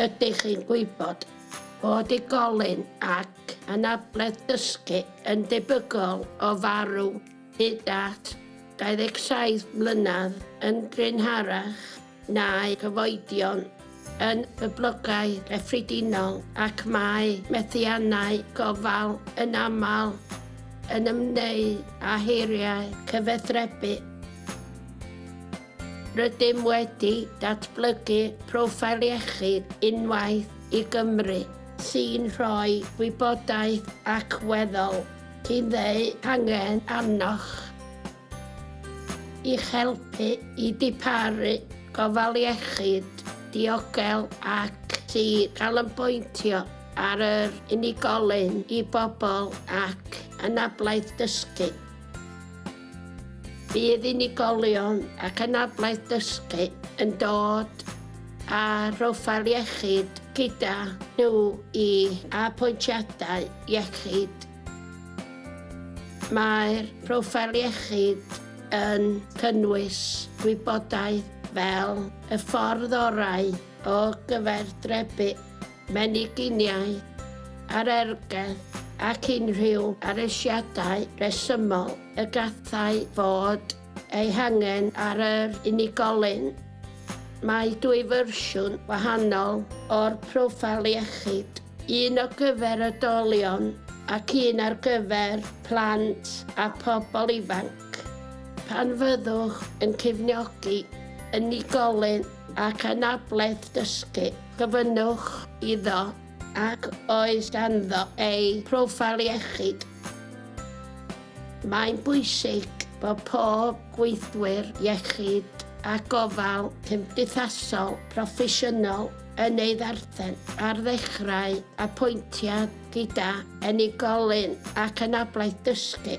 Ydych chi'n gwybod bod unigolyn ac anabledd dysgu yn debygol o farw hyd at 27 mlynedd yn gynharach na'i chyfoedion yn gyflogau cyffredinol ac mae methiannau gofal yn aml yn ymwneud â heriau cyfathrebu. Rydym wedi datblygu profile iechyd unwaith i Gymru sy'n rhoi gwybodaeth ac weddol i ddeu hangen arnoch i'ch helpu i diparu gofal iechyd diogel ac i ganolbwyntio ar yr unigolyn i bobl ac anablaeth dysgu. Bydd unigolion ac anabledd dysgu yn dod â phroffil iechyd gyda nhw i apwyntiadau iechyd. Mae'r proffil iechyd yn cynnwys gwybodaeth fel y ffordd orau o gyfaerdrebu, meniginiaeth, arergell ac unrhyw aresiadau rhesymol y gallai fod eu hangen ar yr unigolyn. Mae dwy fersiwn wahanol o'r Proffil Iechyd, un o gyfer oedolion ac un ar gyfer plant a phobl ifanc. Pan fyddwch yn cefnogi unigolyn ac anabledd dysgu. Gofynnwch iddo ac oes ganddo ei phroffil iechyd. Mae'n bwysig bod pob gweithwyr iechyd a gofal cymdeithasol proffesiynol yn ei ddarllen ar ddechrau apwyntiad gyda unigolyn ac anabledd dysgu.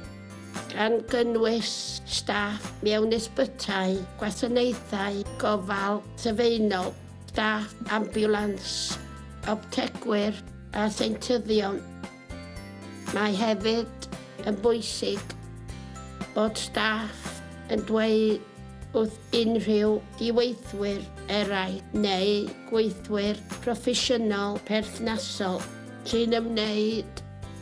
gan gynnwys staff mewn ysbytai, gwasanaethau gofal sylfaenol, staff ambiwlans, optegwyr a seintyddion. Mae hefyd yn bwysig bod staff yn dweud wrth unrhyw ddiweithwyr eraill neu gweithwyr proffesiynol perthnasol sy'n ymwneud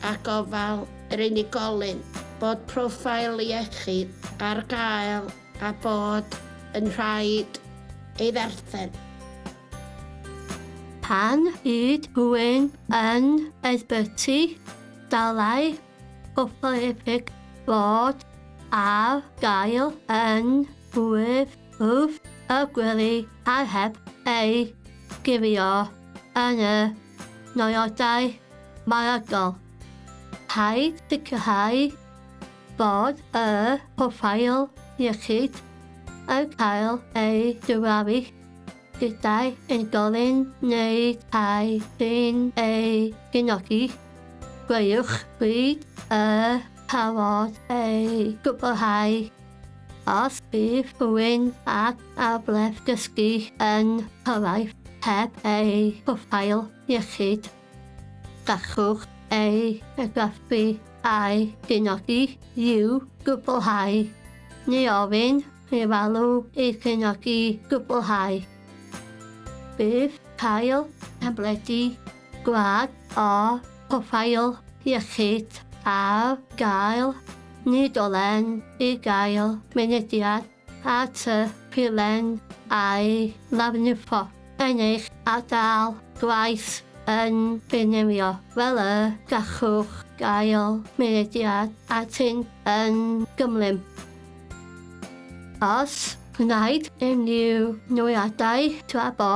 â gofal yr unigolyn, bod profile iechyd ar gael a bod yn rhaid ei ddarllen. Pan yd rhywun yn ysbyty, dylai Copalepig fod ar gael yn rhif wrth y gwely a heb ei gyfio yn y nodiadau maragol. Rhaid sicrhau bod y proffil iechyd yn cael ei gyfrafu gydag unigolyn neu tai sy'n ei gefnogi. Gweiwch bryd y parod ei gwblhau. Os bydd rhywun ag arglwydd dysgu yn cyrraedd heb eu proffil iechyd, Gallwch ei argraffu a'i gynodi i'w gwblhau, neu ofyn i'r alw ei chynodi gwblhau. Bydd cael tabledi gwag o Proffil Iechyd ar gael nid ole'n i gael mynediad at y pilen a'i lafnifo yn eich ardal gwaith yn Binirio, fel y gallwch gael mynediad atyn yn gymlym. Os gwnaed unrhyw newiadau tra bo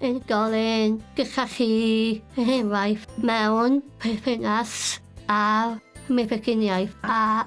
yn gael ein gyllach chi, er enghraifft, mewn perthynas â'r meddyginiaeth, a